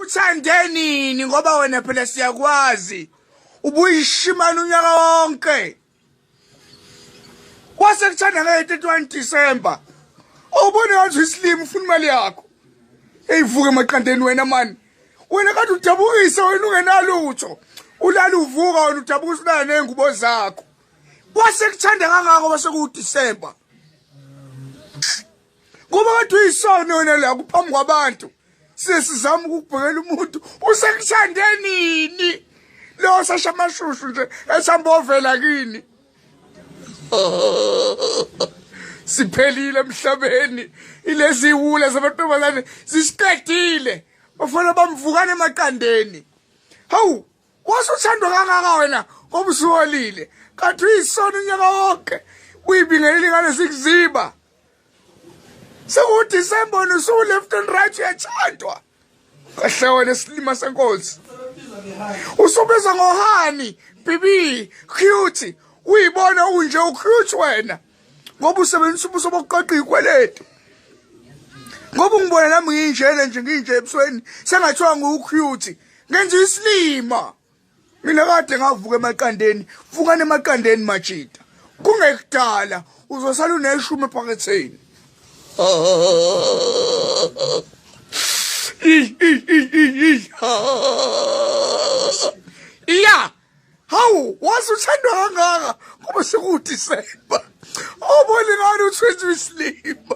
uthande nini ngoba wena phela siyakwazi ubuyishimana unyaka wonke kwase kuthanda nge-31 December awubone ngathi isilima ufuna imali yakho eyivuke emaqandeni wena mani wena kade udabukise wena ungenalutho ulala uvuka wena udabukisa ulala ney'ngubo zakho kwase kuthanda kangako kwase kuwudisemba kuba kodwa uyisono wena la kuphambi kwabantu sesizama ukubhekela umuntu usekuthande nini lo sasha amashushu nje esihamba ovela kini siphelile emhlabeni ilezi iwula zamantombazane zisiqedile bafana bamvukane emaqandeni hawu wase uthandwa kangaka wena ngoba usuholile kanti uyisono unyaka wonke uyibingeleli ngale sikuziba sekudisemba wena usuwu-left and right uyathandwa kahle wena isilima senkosi usubizwa ngohani bibi cute uyibona unje ucute wena ngoba usebenzisa ubuso bokuqoqa ikweletu ngoba ungibona nami nginjena nje nginje ebusweni sengathiwa ngiwucute ngenza isilima mina kade ngavuka emaqandeni vukani emaqandeni majita kungekudala uzosala uneshumi ephaketheni ya hawu waze uthandwa kangaka kuba sekudisemba obona ingani uthwenza isilima